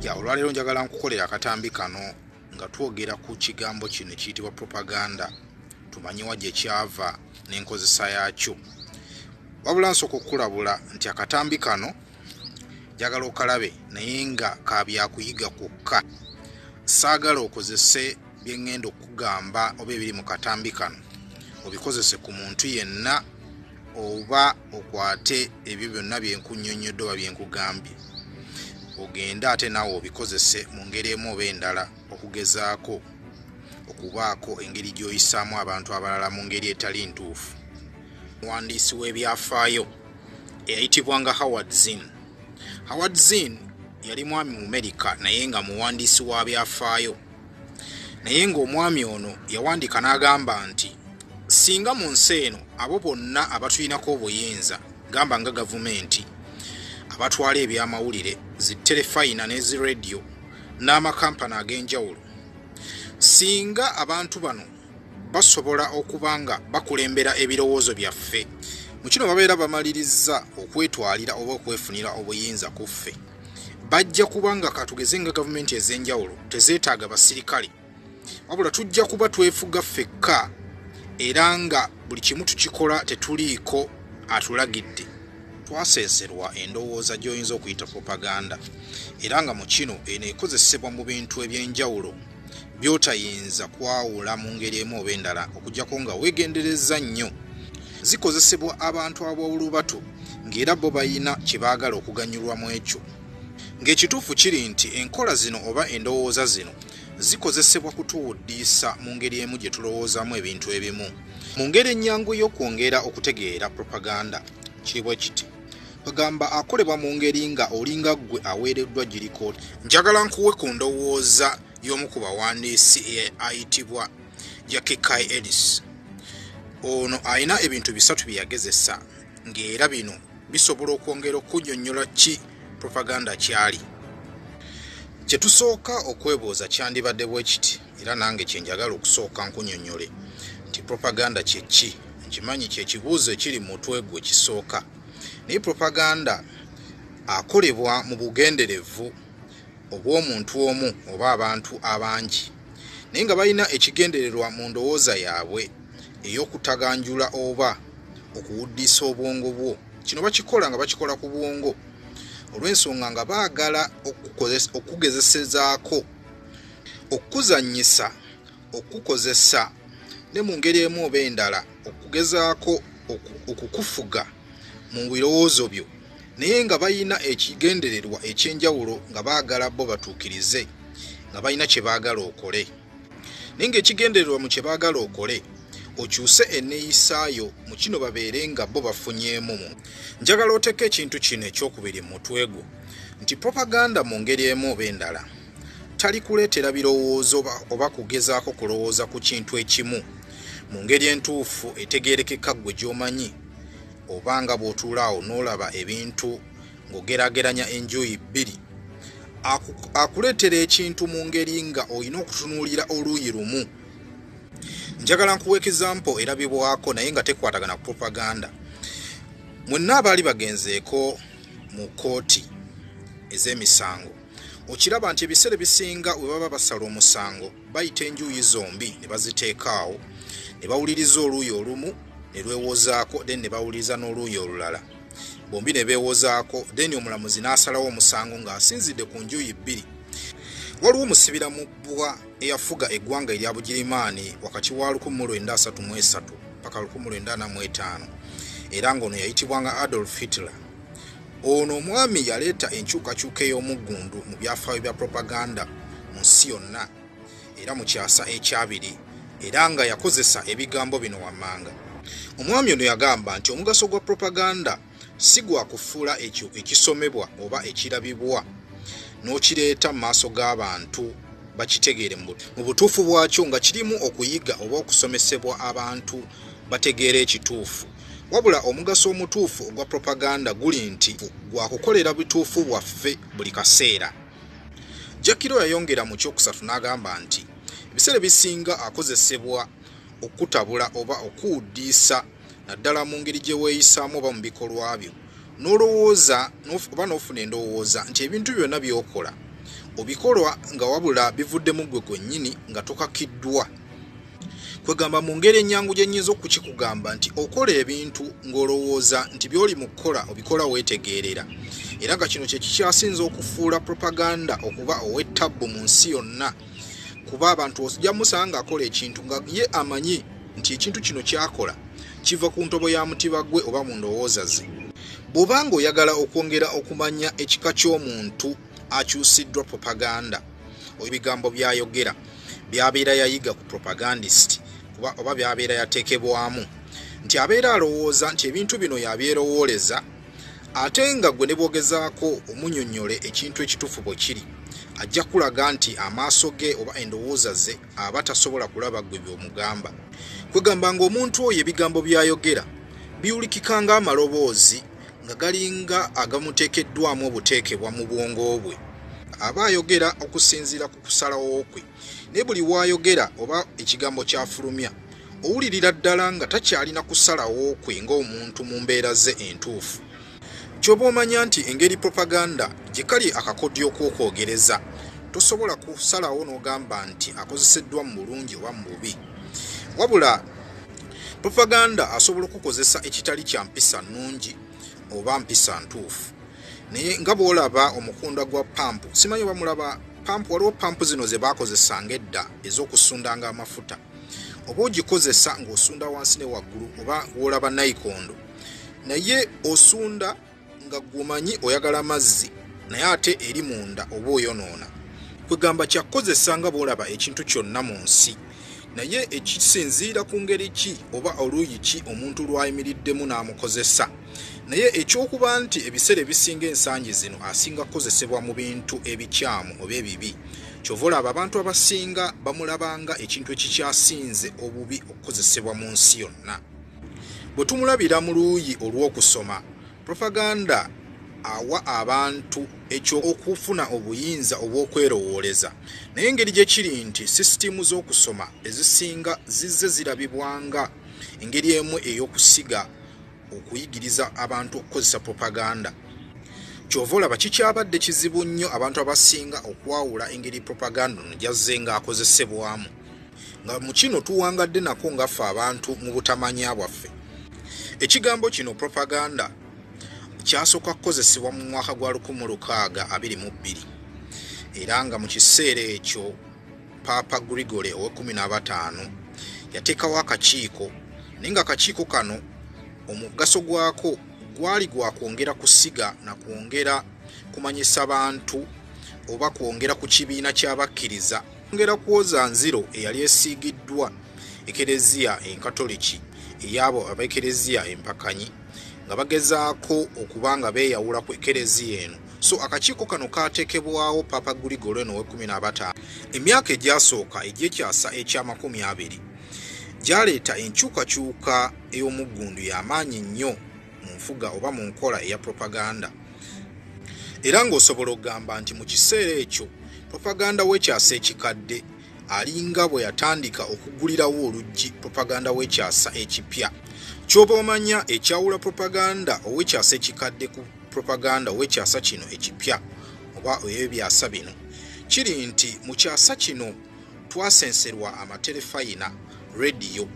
ya olwaleero njagala nkukolera akatambi kano nga twogera ku kigambo kino kiyitibwa propaganda tumanyiwa gye kyava n'enkozesa yaakyo wabula nsooka okukulabula nti akatambi kano njagala okalabe naye nga ka byakuyiga kwokka saagala okozese bye ŋŋenda okukugamba oba ebiri mu katambi kano obikozese ku muntu yenna oba okwate ebyo byonna bye nkunnyonnyodde oba bye nkugambye ogende ate naawe obikozese mu ngeri emu oba endala okugezaako okubaako engeri gy'oyisaamu abantu abalala mu ngeri etali ntuufu omuwandiisi w'ebyafaayo eyayitibwanga howard zin howard zin yali mwami mu amerika naye nga muwandiisi wa byafaayo naye ng'omwami ono yawandiika n'agamba nti singa mu nsi eno abo bonna abatulinako obuyinza gamba nga gavumenti abatwala ebyamawulire zi terefayina n'ezi rediyo n'amakampani ag'enjawulo singa abantu bano basobola okuba nga bakulembera ebirowoozo byaffe mu kino babeera bamalirizza okwetwalira oba okwefunira obuyinza ku ffe bajja kuba nga katugeze nga gavumenti ez'enjawulo tezeetaaga basirikale wabula tujja kuba twefuga ffekka era nga buli kimu tukikola tetuliiko atulagidde twaseeserwa endowooza gy'oyinza okuyita propaganda era nga mu kino eno ekozesebwa mu bintu eby'enjawulo by'otayinza kwawula mu ngeri emu oba endala okugyako nga weegenderezza nnyo zikozesebwa abantu ab'olubatu ng'era bo balina kye baagala okuganyulwa mu ekyo ng'ekituufu kiri nti enkola zino oba endowooza zino zikozesebwa kutuwuddiisa mu ngeri emu gye tulowoozaamu ebintu ebimu mu ngeri ennyangu y'okwongera okutegeera propaganda kiri bwe kiti bagamba akolebwa mu ngeri nga olinga ggwe aweereddwa girikooti njagala nkuwe ku ndowooza y'omu ku bawandiisi ayitibwa jakikai elis ono alina ebintu bisatu bye yagezesa ng'era bino bisobola okwongera okunyonnyola ki propaganda kyali kye tusooka okwebuuza kyandibadde bwe kiti era nange kye njagala okusooka nkunyonnyole nti propaganda kye ki nkimanyi kye kibuuzo ekiri mutwe gwe kisooka naye propaganda akolebwa mu bugenderevu obw'omuntu omu oba abantu abangi naye nga balina ekigendererwa mu ndowooza yaabwe ey'okutaganjula oba okuwuddisa obwongo bwo kino bakikola nga bakikola ku bwongo olw'ensonga nga baagala okukugezesezaako okukuzanyisa okukukozesa ne mu ngeri emu oba endala okugezaako okukufuga mu birowoozo byo naye nga balina ekigendererwa ekyenjawulo nga baagala bo batuukirize nga balina kye baagala okole naye ngaekigendererwa mu kye baagala okole okyuse enneeyisaayo mu kino babeere nga bo bafunyeemu mu njagala oteeka ekintu kino ekyokubiri mu mutwe gwo nti propaganda mu ngeri emu oba endala talikuleetera birowoozo oba kugezaako kulowooza ku kintu ekimu mu ngeri entuufu etegeerekeka ggwe gy'omanyi oba nga bw'otuula awo n'olaba ebintu ng'ogerageranya enjuyi bbiri akuleetera ekintu mu ngeri nga olina okutunuulira oluuyi lumu njagala nkuwa ekizampo erabibwako naye nga tekwatagana ku propaganda mwenna abaali bagenzeeko mu kkooti ez'emisango okiraba nti ebiseera ebisinga we baba basala omusango bayita enjuuyi zombi ne baziteekaawo ne bawuliriza oluuyi olumu ne lwewozaako then ne bawuliriza n'oluuyi olulala bombi ne beewozaako then omulamuzi n'asalawo omusango ng'asinzidde ku njuuyi bbiri waliwo omusibira mu bbwa eyafuga eggwanga erya bugirimaani wakati wa 1933 paka 1945 era ng'ono yayitibwanga adolf hitler Ono omwami yaleeta enkyukakyuka ey'omuggundu mu byafaayo bya propaganda mu nsi yonna era mu kyasa ekyabiri era nga yakozesa ebigambo bino wammanga. Omwami ono yagamba nti omugaso gwa propaganda si gwa kufuula ekyo ekisomebwa oba ekirabibwa n'okireeta mu maaso g'abantu bakitegeere mu butuufu bwakyo nga kirimu okuyiga oba okusomesebwa abantu bategeera ekituufu. Wabula omugaso omutuufu ogwa propaganda guli nti gwa kukolera bituufu bwaffe buli kaseera. Jakiro yayongera mu kyokusatu n'agamba nti ebiseera ebisinga akozesebwa okukutabula oba okuwuddiisa naddala mu ngeri gye weeyisaamu oba mu bikolwa byo n'olowooza oba n'ofuna endowooza nti ebintu byonna by'okola obikolwa nga wabula bivuddemu ggwe gwennyini nga tokakiddwa kwegamba mu ngeri ennyangu gye nnyinza okukikugamba nti okola ebintu ng'olowooza nti by'oli mu kukola obikola weetegeerera era nga kino kye kikyasinza okufuula propaganda okuba ow'ettabbu mu nsi yonna kuba abantu osija musanga akola ekintu nga ye amanyi nti ekintu kino kyakola kiva ku ntobo ya mutiba gwe oba mu ndowooza ze bw'oba ng'oyagala okwongera okumanya ekika ky'omuntu akyusiddwa propaganda oyo bigambo byayogera byabeera yayiga ku propagandist kuba oba byabeera yatekebwamu nti abeera alowooza nti ebintu bino yabyerowooleza ate nga gwe ne bwogezaako omunyonyole ekintu ekituufu bwe kiri ajja kulaga nti amaaso ge oba endowooza ze aba tasobola kulaba gwe by'omugamba kwegamba ng'omuntu oyo ebigambo byayogera biwulikika ng'amaloboozi nga galinga agamuteekeddwamu obuteekebwa mu bwongo bwe aba ayogera okusinziira ku kusalawo kwe naye buli waayogera oba ekigambo kyafulumya owulirira ddala nga takyalina kusalawo kwe ng'omuntu mu mbeera ze entuufu kyoba omanya nti engeri propaganda gye kali akakodyo okwokwoogereza tosobola kusalawo n'ogamba nti akozeseddwa mu bulungi oba mu bubi wabula propaganda asobola okukozesa ekitali kya mpisa nnungi oba mpisa ntuufu naye nga bwolaba omukunda gwa pampu simanyi oba mulaba pampu waliwo pampu zino ze baakozesanga edda ez'okusundanga amafuta oba ogikozesa ng'osunda wansi ne waggulu oba wolaba nayikondo naye osunda nga gwomanyi oyagala mazzi naye ate eri munda oba oyonoona kwegamba kyakukozesa nga bwolaba ekintu kyonna mu nsi naye ekisinziira ku ngeri ki oba oluuyi ki omuntu lwayimiriddemu n'amukozesa naye ekyokuba nti ebiseera ebisinga ensangi zino asinga kukozesebwa mu bintu ebikyamu oba ebibi kyova olaba abantu abasinga bamulabanga ekintu ekikyasinze obubi okukozesebwa mu nsi yonna Bwe tumulabira mu luuyi olw'okusoma, propaganda awa abantu eky'okufuna obuyinza obw'okwerowooleza. Naye engeri gye kiri nti sisitiimu z'okusoma ezisinga zizze zirabibwa nga engeri emu ey'okusiga okuyigiriza abantu okukozesa propaganda. Kyova olaba kikyabadde kizibu nnyo abantu abasinga okwawula engeri propaganda ono gyazze ng'akozesebwamu nga mu kino tuwangadde nako ngaffe abantu mu butamanya bwaffe ekigambo kino propaganda kyasooka kukozesebwa mu mwaka gwa 1622 era nga mu kiseera ekyo paapa gregory ow15 yateekawo akakiiko naye nga akakiiko kano omugaso gwako gwali gwa kwongera kusiga na kwongera kumanyisa bantu oba kwongera ku kibiina ky'abakkiriza Ngera kwoza nziro eyali esiigiddwa ekereziya enkatoliki eyabo abekereziya empakanyi nga bagezaako okuba nga beeyawula ku ekereziya eno so akakiiko kano kaatekebwawo papa guligolo eno wekumi nabataano emyaka egyasooka egy'ekyasa eky'amakumi abiri gyaleeta enkyukakyuka ey'omuggundu y'amaanyi nnyo mu nfuga oba mu nkola eya propaganda era ng'osobola okugamba nti mu kiseera ekyo propaganda w'ekyasa ekikadde alinga bwe yatandika okugulirawo oluggi propaganda w'ekyasa ekipya kyoba omanya ekyawula propaganda ow'ekyasa ekikadde ku propaganda ow'ekyasa kino ekipya oba ey'ebyasa bino kiri nti mu kyasa kino twasenserwa amaterefayina rediyo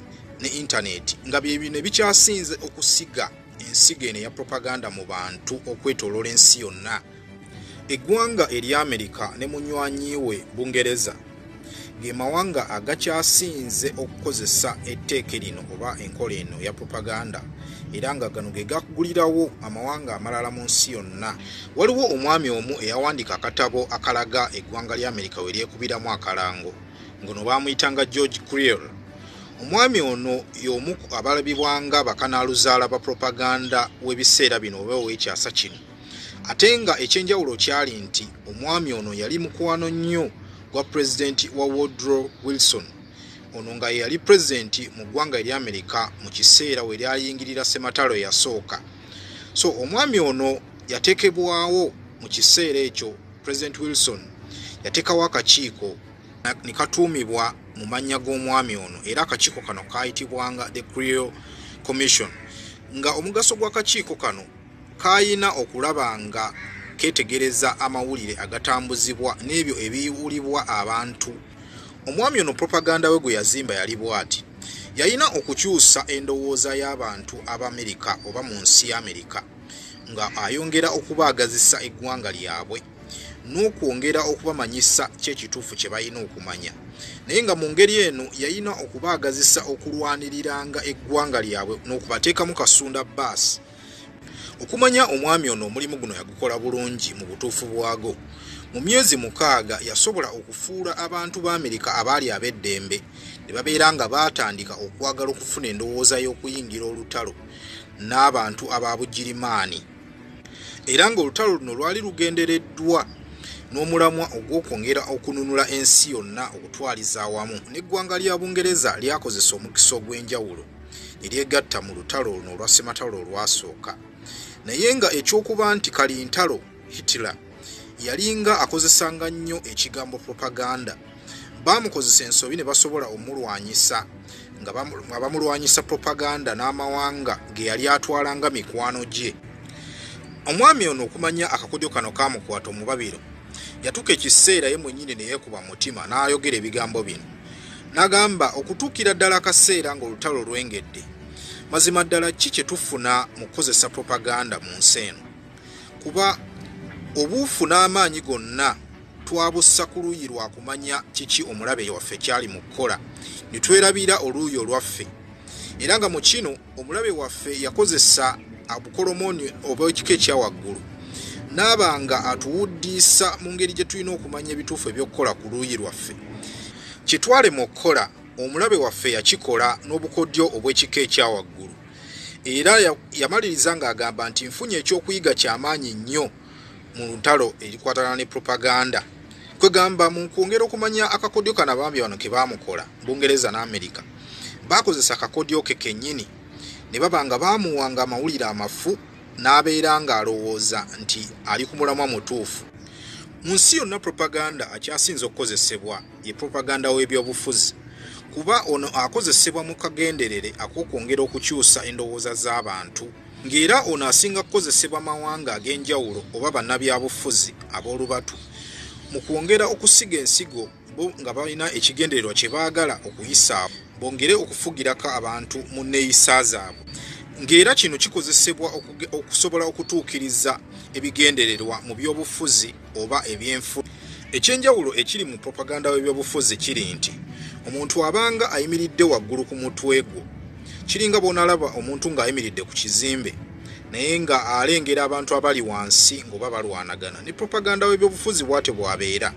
ne intaneti nga byebino ebikyasinze okusiga ensigo eno eya propaganda mu bantu okwetoloola ensi yonna eggwanga erya amerika ne munywanyi we bungereza ge mawanga agakyasinze okukozesa etteeke lino oba enkola eno ya propaganda era nga gano ge gagulirawo amawanga amalala mu nsi yonna Waliwo omwami omu eyawandiika akatabo akalaga eggwanga lya Amerika we lyekubiramu akalango, ngono baamuyitanga George Creel. Omwami ono y'omu abalabibwanga bakanaaluzaala ba propaganda w'ebiseera bino oba ow'ekyasa kino. Ate nga ekyenjawulo kyali nti omwami ono yali mukwano nnyo gwa pulezidenti wa Woodrow Wilson. Ono nga yeyali pulezidenti mu ggwanga erya Amerika mu kiseera we lyayingirira ssematalo eyasooka. so omwami ono yatekebwawo mu kiseera ekyo president wilson yatekawo akakiiko nekatuumibwa mu mannya g'omwami ono era akakiiko kano kayitibwanga the creal commission nga omugaso gw'akakiiko kano kayina okulaba nga ketegereza amawulire agatambuzibwa n'ebyo ebiwulibwa abantu Omwami ono propaganda we gwe yazimba yali bwati. Yalina okukyusa endowooza y'abantu ab'Amerika oba mu nsi y'Amerika nga ayongera okubaagazisa eggwanga lyabwe n'okwongera okubamanyisa ky'ekituufu kye balina okumanya. Naye nga mu ngeri eno yalina okubaagazisa okulwaniriranga eggwanga lyabwe n'okubateekamu kasunda baasi. okumanya omwami ono omulimu guno yagukola bulungi mu butuufu bwago mu myezi mukaaga yasobola okufuula abantu ba amerika abaali ab'eddembe ne babeera nga baatandika okwagala okufuna endowooza y'okuyingira olutalo n'abantu aba bugirimaani era ng'olutalo luno lwali lugendereddwa n'omulamwa ogw'okwongera okununula ensi yonna okutwaliza awamu n'eggwanga lya bungereza lyakozesa omukisa ogw'enjawulo ne lyegatta mu lutalo luno olwa ssematalo olwasooka naye nga ekyokuba nti kalintalo hitler yalinga akozesanga nnyo ekigambo propaganda baamukozesa ensobi ne basobola omulwanyisa nga bamulwanyisa propaganda n'amawanga ge yali atwalanga mikwano gye omwami ono okumanya akakodyo kano kaamukwata omubabiro yatuuka ekiseera ye mwennyini ne yeekuba mu mutima n'ayogera ebigambo bino n'agamba okutuukira ddala akaseera ng'olutalo lwengedde mazima ddala ki kye tufuna mu kukozesa propaganda mu nsi eno kuba obuufu n'amaanyi gonna twabussa ku luuyi lwa kumanya kiki omulabe waffe kyali mu kukola ne twerabira oluuyi olwaffe era nga mu kino omulabe waffe yakozesa abukolomooni oba ekika ekyawaggulu naaba nga atuwuddiisa mu ngeri gye tulina okumanya ebituufu ebyokukola ku luuyi lwaffe kyetwalemu okukola omulabe waffe yakikola n'obukodyo obw'ekika ekyawaggulu era yamaliriza ng'agamba nti nfunye ekyokuyiga kyamaanyi nnyo mu lutalo erikwatana ne propaganda kwegamba mu kwongera okumanya akakodyo kano abambi bano kebaamukola bungereza ne amerika baakozesa akakodyo ke kennyini ne baba nga baamuwanga amawulire amafu n'abeera ng'alowooza nti ali ku mulamwa mutuufu mu nsi yonna propaganda akyasinze okukozesebwa ye propaganda w'ebyobufuzi kuba ono akozesebwa mu kagenderere ak'okwongera okukyusa endowooza z'abantu ng'era ono asinga kukozesebwa mawanga ag'enjawulo oba bannabyabufuzi ab'olubatu mu kwongera okusiga ensigo bo nga balina ekigendererwa kye baagala okuyisaabo bongere okufugirako abantu mu nneeyisa zaabwe ng'era kino kikozesebwa okusobola okutuukiriza ebigendererwa mu by'obufuzi oba ebyenfu ekyenjawulo ekiri mu propaganda w'ebyobufuzi kiri nti omuntu abanga ayimiridde waggulu ku mutwe gwo kiringa bw'onalaba omuntu ng'ayimiridde ku kizimbe naye nga alengera abantu abali wansi ng'oba balwanagana ne propaganda w'ebyobufuzi bwatyo bwabeera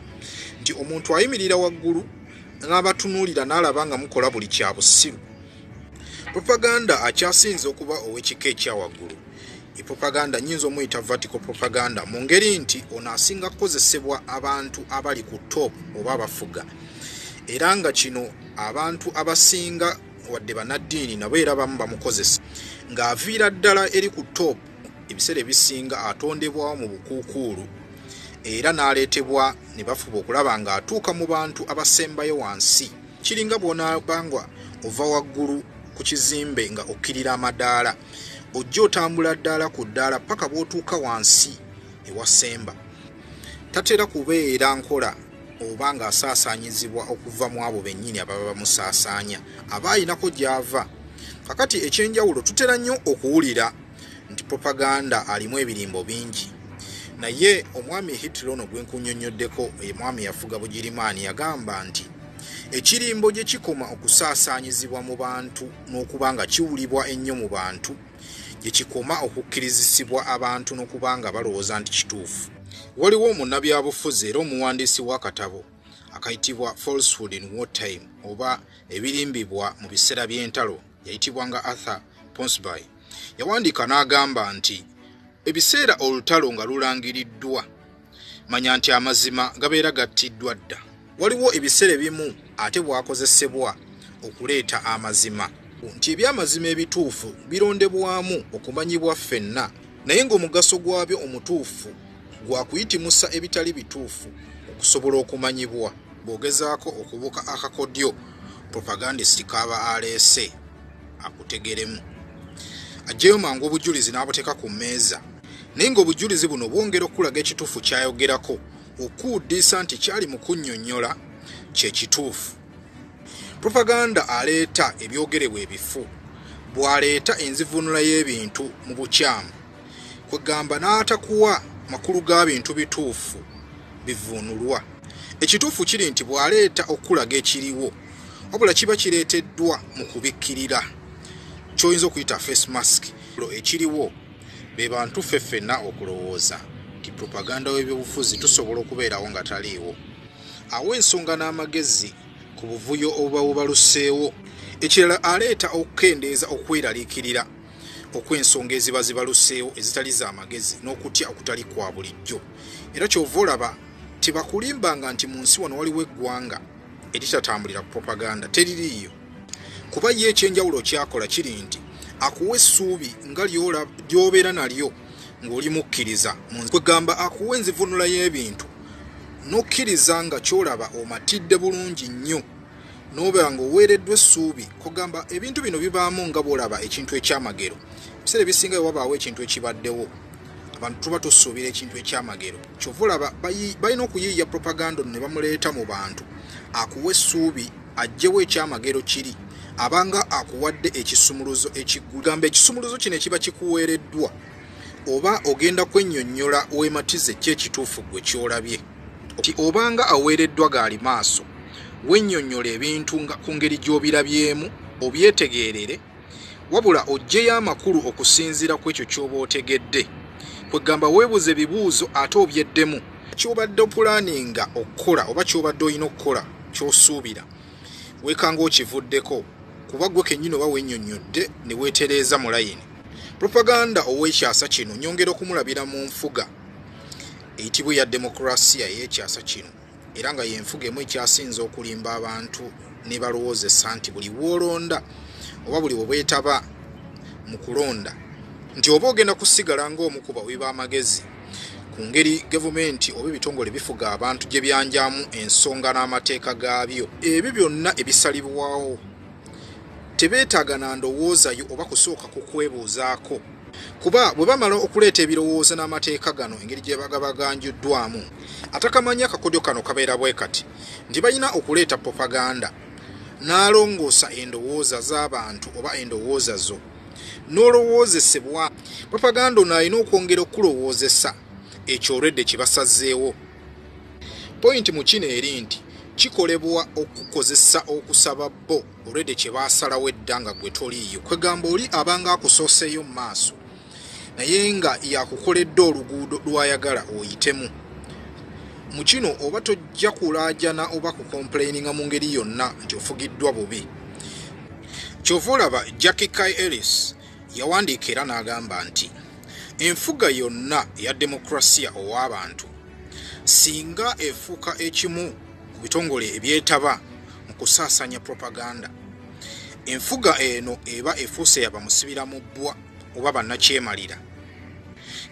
nti omuntu ayimirira waggulu n'abatunuulira n'alaba nga mukola buli kya busiru propaganda akyasinze okuba ow'ekika ekya waggulu e propaganda nyinza omuyita vertical propaganda mu ngeri nti ono asinga kukozesebwa abantu abali ku top oba abafuga era nga kino abantu abasinga wadde banaddiini nabo era bamu bamukozesa ng'aviira ddala eri ku top ebiseera ebisinga atondebwawo mu bukuukuulu era n'aleetebwa ne bafuba okulaba ng'atuuka mu bantu abasembayo wansi kiringa bw'onaabangwa ova waggulu ku kizimbe nga okkirira amadaala ojja otambula ddaala ku ddaala paka bwotuuka wansi ewasemba tatera kubeera nkola oba nga asaasaanyizibwa okuva mu abo bennyini ababa bamusaasaanya aba ayinako gy'ava kakati ekyenjawulo tutera nnyo okuwulira nti propaganda alimu ebirimbo bingi naye omwami hitler ono gwe nkunyonnyoddeko omwami yafuga bugirimaani yagamba nti ekirimbo gye kikoma okusaasaanyizibwa mu bantu n'okuba nga kiwulibwa ennyo mu bantu gye kikoma okukkirizisibwa abantu n'okuba nga balowooza nti kituufu waliwo omunnabyabufuzi era omuwandiisi w'akatabo akayitibwa falsehood in war time oba ebirimbibwa mu biseera by'entalo yayitibwa nga arthur ponsby yawandiika n'agamba nti ebiseera olutalo nga lulangiriddwa manya nti amazima gabeera gattiddwa dda waliwo ebiseera ebimu ate bwakozesebwa okuleeta amazima nti ebyamazima ebituufu birondebwamu okumanyibwa ffenna naye ng'omugaso gwabyo omutuufu gwa kuyitimusa ebitali bituufu okusobola okumanyibwa bw'ogezaako okubuka akakodyo propagandist kaaba aleese akutegeremu ajjeyo mangu obujulizi n'abuteeka ku mmeeza naye ng'obujulizi buno bwongera okukulaga ekituufu kyayogerako okuwuddiisa nti kyali mu kunnyonnyola kye kituufu propaganda aleeta ebyogerebwa ebifu bw'aleeta enzivuunula y'ebintu mu bukyamu kwegamba n'atakuwa makulu ga bintu bituufu bivuunulwa ekituufu kiri nti bw'aleeta okukulaga ekiriwo wabula kiba kireeteddwa mu kubikkirira kyoyinza okuyita face mask ekiriwo be bantu ffe ffenna okulowooza nti propaganda w'ebyobufuzi tusobola okubeerawo nga taliiwo awo ensonga n'amagezi ku buvuyo obuba bubaluseewo ekirala aleeta okukendeeza okweraliikirira okw'ensonga eziba zibaluseewo ezitali za magezi n'okutya okutali kwa bulijjo era kyova olaba tebakulimbanga nti mu nsi wano waliwo eggwanga eritatambulira ku propaganda teririiyo kuba ye ekyenjawulo kyakola kiri nti akuwa essuubi nga lyobeera nalyo ng'oli mukkiriza kwegamba akuwa enzivunula y'ebintu n'okkiriza nga kyolaba omatidde bulungi nnyo n'obeera ng'oweereddwa essuubi kugamba ebintu bino bibaamu nga bwolaba ekintu ekyamagero ebiseera ebisinga wewabaawo ekintu ekibaddewo abantu tuba tusuubira ekintu ekyamagero kyova olaba balina okuyiiya propaganda ono ne bamuleeta mu bantu akuwa essuubi ajjewo ekyamagero kiri abanga akuwadde ekisumuluzo ekigamba ekisumuluzo kino ekiba kikuweereddwa oba ogenda kwennyonnyola wematize ki ekituufu gwe kyolabye ti obanga aweereddwa gaali maaso wennyonnyola ebintu nga ku ngeri gy'obirabyemu obyetegeerere wabula ojjeyo amakulu okusinziira ku ekyo ky'oba otegedde kwegamba weebuze ebibuuzo ate obyeddemu kyobadde opulaninga okukola oba kyobadde olina okukola kyosuubira weekanga okivuddeko kuba gwe kennyini oba wenyonnyodde ne weetereeza mu layini propaganda ow'ekyasa kino nyongera okumulabira mu nfuga eyitibwa eya demokurasiya ey'ekyasa kino era nga yenfuga emu ekyasinze okulimba abantu nebalowoozesa nti buli woolonda oba buli webwetaba mu kulonda nti oba ogenda kusigala ngaomukuba wiba amagezi ku ngeri gavumenti oba ebitongole bifuga abantu gye byanjamu ensonga n'amateeka gaabyo ebyo byonna ebisalibwawo tebeetaaga na ndowoozayo oba kusooka ku kwebuuzaako kuba bwe bamala okuleeta ebirowoozo n'amateeka gano engeri gye baga baganjuddwamu atakamanya akakodyo kano kabeera bwe kati nti balina okuleeta propaganda n'alongoosa endowooza z'abantu oba endowooza zo n'olowoozesebwa propaganda ono alina okwongera okukulowoozesa ekyoredde kye basazeewo pointi mu kino eri nti kikolebwa okukozesa okusaba bo already kye baasalawo edda nga gwe toliiyo kwegamba oli abanga akusooseeyo mu maaso naye nga yakukoledde oluguudo lwayagala oyitemu mu kino oba tojja kulaajana oba kukomplaininga mu ngeri yonna nti ofugiddwa bubi kyova olaba jacki kai ellis yawandiika era n'agamba nti enfuga yonna eya demokrasiya ow'abantu singa efuuka ekimu mu bitongole ebyetaba mu kusaasanya propaganda enfuga eno eba efuuse yaba musibira mu bbwa oba bannakyemalira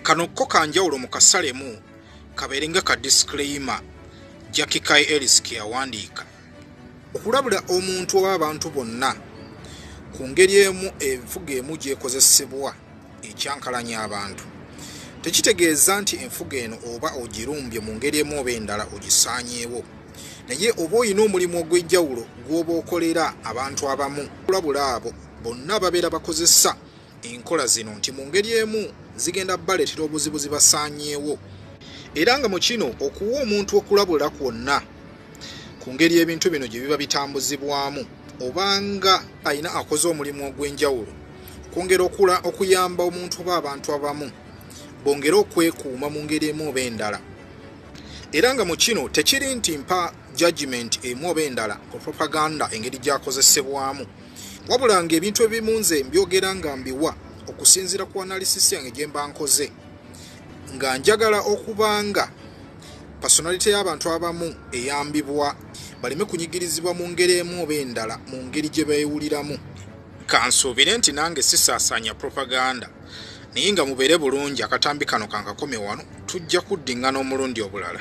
kano kko kanjawulo mu kasalemu kabeere nga ka disclaimer jakikai elis ke yawandiika okulabula omuntu oba abantu bonna ku ngeri emu enfuga emu gyekozesebwa ekyankalanya abantu tekitegeeza nti enfuga eno oba ogirumbye mu ngeri emu oba endala ogisaanyeewo naye oba olina omulimu ogw'enjawulo gw'oba okolera abantu abamu kulabula abo bonna babeera bakozesa enkola zino nti mu ngeri emu zigenda baleetera obuzibu zibasaanyeewo era nga mu kino okuwa omuntu okulabula kwonna ku ngeri ebintu bino gye biba bitambuzibwamu obanga alina akoze omulimu ogw'enjawulo kwongera okula okuyamba omuntu oba abantu abamu bongere okwekuuma mu ngeri emu oba endala era nga mu kino tekiri nti mpa judgment emu oba endala ku propaganda engeri gyakozesebwamu wabula nga ebintu ebimu nze mbyogera nga mbiwa okusinziira ku analysis yange gye mba nkoze nga njagala okuba nga pasonalite y'abantu abamu eyambibwa baleme kunyigirizibwa mu ngeri emu oba endala mu ngeri gye beewuliramu kansuubire nti nange sisaasaanya propaganda naye nga mubeere bulungi akatambi kano kankakome wano tujja kuddingana omulundi obulala